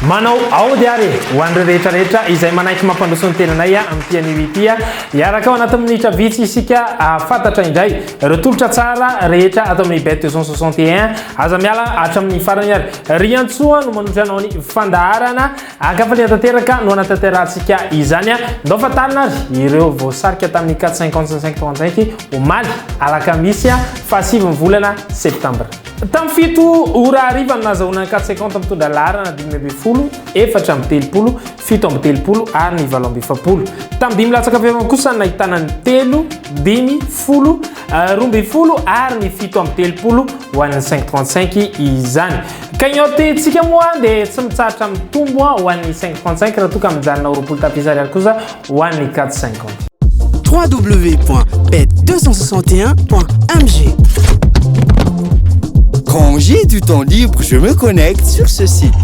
manao aody ary ho an'ireo rehetrarehetra izay manaiky mampandroso ny tenanay amin'ny pianio ity iaraka ao anatin'ny minitra vitsy isika ahafatatra indray ireo tolotra tsara rehetra ato amin'ny bet 261 Aza miala hatramin'ny farany ary. Riantsoa no manotra anao ny fandaharana. An-kafaliana tanteraka no anatanterahantsika izany. Ndao fantarina ary ireo voasarika tamin'ny 4h55-35 omaly alakamisy faha sivin'ny volana septambra. Tamin'ny fito ora hariva no nazahoana ny 450 mitondra laharana dimy ambin'ny folo, efatra amby telopolo, fito amby telopolo ary ny valo amby efapolo. Tamin'ny dimy latsaka avy eo kosa no nahitana ny telo, dimy, folo, roa ambin'ny folo ary ny fito amby telopolo ho an'ny 535 izany. Cagnotte tsika moa dia tsy mitsahatra mitombo ho an'ny 535 raha toa ka mijanona ho roapolo tapitrisa ariary kosa ho an'ny 450. www.pet261.mg Quand j'ai du temps libre, je me connecte sur ce site.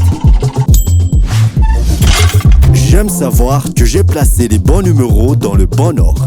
J'aime savoir que j'ai placé les bons numéros dans le bon ordre.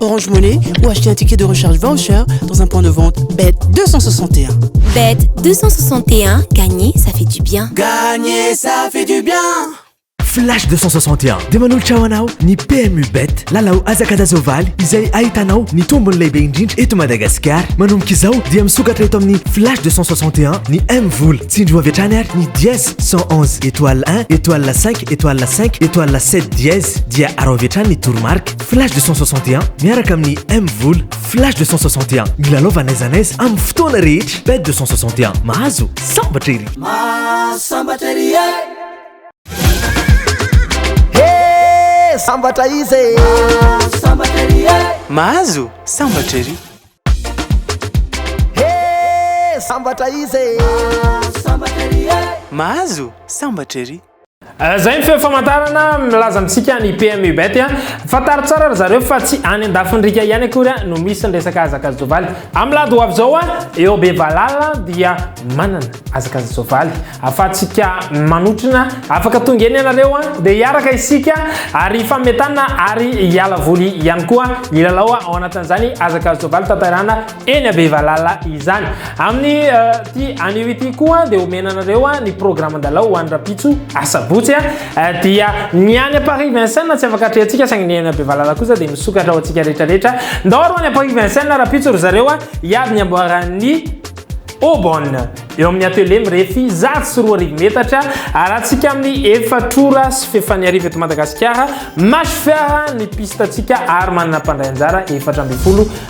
Orange Money ou acheter un ticket de recharge voucher dans un point de vente BET 261. BET 261, gagner ça fait du bien. Gagner ça fait du bien. Flash 261 dia manolotra ho anao ny PMU Bet lalao azakadazovaly izay ahitanao ny tombony lehibe indrindra eto Madagasikara. Manomboka izao dia misokatra eto amin'ny Flash 261 ny M vola. Tsindrio avy hatrany ary ny dièse 111 étoile 1 étoile 5 étoile 5 étoile 7 dièse dia arao avy hatrany ny toromarika. Flash 261 miaraka amin'ny M Vola. Flash 261 milalaova n'aiza n'aiza amin'ny fotoana rehetra. Bet 261 mahazo sambatra ery. Mahasambatra ery e. Hey, sambatra izy e. Mahasambatra ery e. Mahazo sambatra ery. Hey, sambatra izy e. Mahasambatra ery e. Mahazo sambatra ery. Eh, zay ny feo famantarana milaza amintsika ny PM Ubet a. Fantaro tsara ry zareo fa tsy any an-dafin'rika ihany akory no misy ny resaka azakazovaly. Amin'ny lady ho avy izao a, eo be valala dia manana azakazovaly. Afatsika manotrona, afaka tonga eny ianareo a, dia hiaraka isika ary hifametana ary hiala voly ihany koa hilalao ao anatin'izany azakazovaly tanterana Eny Bevalala izany. Amin'ny ity anio ity koa dia omena anareo ny programan-dalao ho any Rapitso Asabotsy dia ny any Paris Vincennes tsy afaka atrehantsika saingy ny any Bevalala kosa dia misokatra ho antsika rehetra rehetra. Ndao aro any Paris Vincennes Rapitso ry zareo hiady ny amboaran'ny Aubonne eo amin'ny atelier mirefy zato sy roa arivo metatra arantsika amin'ny efatrora sy fefany arivo eto Madagasikara match fiara ny pistantsika ary manana mpandray anjara efatra ambin'ny folo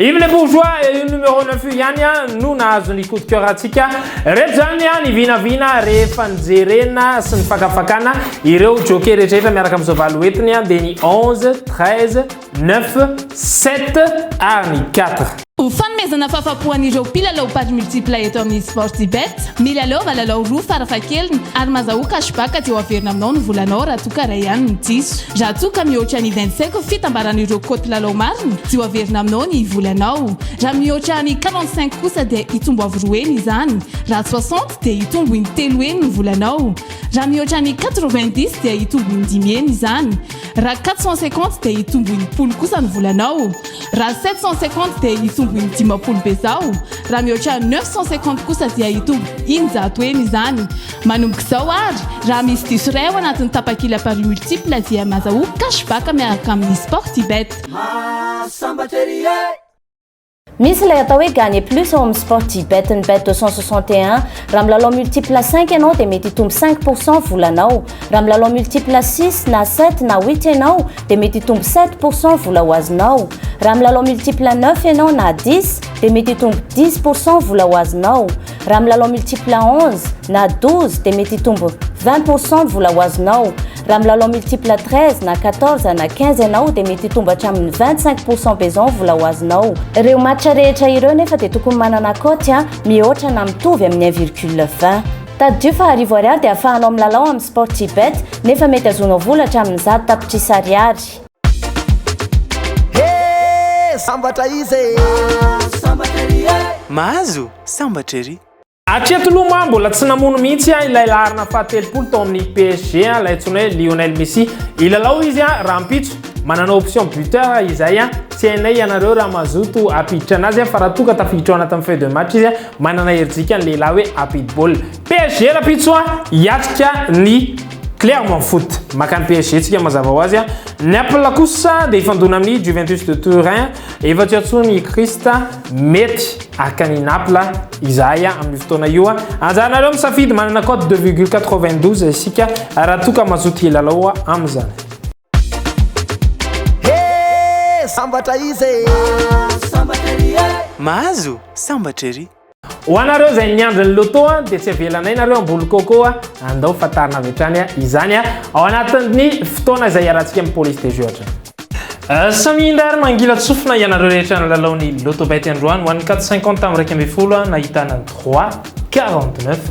Yves le bourgeois et io numéro 9 io ihany a no nahazo ny coup de cœur antsika reto zany a ny vinavina rehefa nijerena sy ny fakafakana ireo jockey rehetrarehetra miaraka amin'izao valo hoentiny a dia ny 11, 13, 9, 7 ary ny 4. Ho fanomezana fahafapo an'ireo mpilalao paris multiple eto amin'ny Sportybet, milalaova lalao roa farafahakeliny ary mazahoa cashback dia ho averina aminao ny volanao raha toa ka iray ihany no diso. Raha toa ka mihoatra ny vingt-cinq fitambaran'ireo kaoty lalao marina dia ho averina aminao ny volanao. Raha mihoatra ny quarante-cinq kosa dia hitombo avo roa heny izany. Raha soixante dia hitombo in-telo heny ny volanao. Raha mihoatra ny quatre-vingt-dix dia hitombo in-dimy heny izany. Raha quatre cent cinquante dia hitombo in-polo kosa ny volanao. Raha sept cent cinquante dia hitombo in-dimampolo bezao. Raha mihoatra neuf cent cinquante kosa dia hitombo in-jato heny izany. Manomboka izao ary, raha misy diso iray ao anatin'ny tapakila paris multiple dia mazahoa cash back miaraka amin'ny Sportybet. Mahasambatra ery e! Misy ilay atao hoe gagner plus ao amin'ny Sportybet ny bet 261. Raha milalao multiple cinq ianao dia mety hitombo cinq pour cent volanao. Raha milalao multiple six na sept na huit ianao dia mety hitombo sept pour cent vola ho azonao. Raha milalao multiple neuf ianao na dix dia mety hitombo dix pour cent vola ho azonao. Raha milalao multiple à 11 na 12 dia mety hitombo 20 pour cent ny vola ho azonao. Raha milalao multiple à 13 na 14 na 15 ianao dia mety hitombo hatramin'ny 25 pour cent pezan ny vola ho azonao. Ireo match rehetra ireo nefa dia tokony manana cote a mihoatra na mitovy amin'ny 1 virgule 20. Tadidio fa arivo ariary dia afahanao milalao amin'ny Sportybet nefa mety azonao vola hatramin'ny zato tapitrisa ariary. Hee sambatra izy e! Mahazo sambatra ery e! Mahazo sambatra ery! Hatreto aloha moa mbola tsy namono mihitsy ilay laharana fahatelopolo tao amin'ny PSG, ilay antsoina hoe Lionel Messi. Hilalao izy rahampitso. Manana option buteur izay. Tsy hainay ianareo raha mazoto hampiditra anazy fa raha toa ka tafiditra ao anatin'ny feuille de match izy, manana herijika ny lehilahy hoe hampidi-baolina. PSG rampitso a, hiatrika ny Clermont Foot. Maka ny PSG tsika mazava ho azy a. Naples kosa dia hifandona amin'ny Juventus de Turin. Efa tsy antsoiny i Christ, mety haka an'i Naples izahay a amin'io fotoana io a. Anjaranareo misafidy, manana code de virgule quatre-vingt-douze isika raha toa ka mazoto hilalao amin'izany. Hee sambatra izy e! Mahazo sambatra ery e! Mahazo sambatra ery! Ho anareo izay miandry ny loto dia tsy avelanay nareo amboly coco andao fantarina avy hatrany izany ao anatin'ny fotoana izay iarahantsika amin'ny police des jeux hatrany. Samia indray ary mangilatsofina ianareo rehetra nilalao ny lotobet androany ho an'ny carte cinquante tamin'ny iraika ambin'ny folo nahitana droit quarante neuf.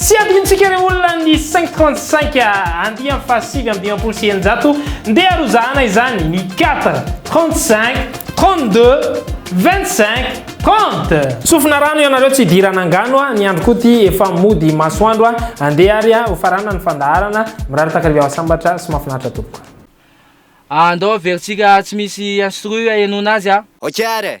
Tsy adinontsika ireo olona ny cinq trente cinq andiany fahasivy amby dimampolo sy eninjato, ndeha arozahana izany ny quatre, trente cinq, trente deux, vingt cinq, trente. Tsofina rano ianareo tsy hidirana angano a, ny andro koa ty efa mody masoandro a, andeha ary a, hofarana ny fandaharana, mirary takariva mahasambatra sy mahafinaritra tompoko. Andao averitsika tsy misy instru henoana azy an! Ok ary e!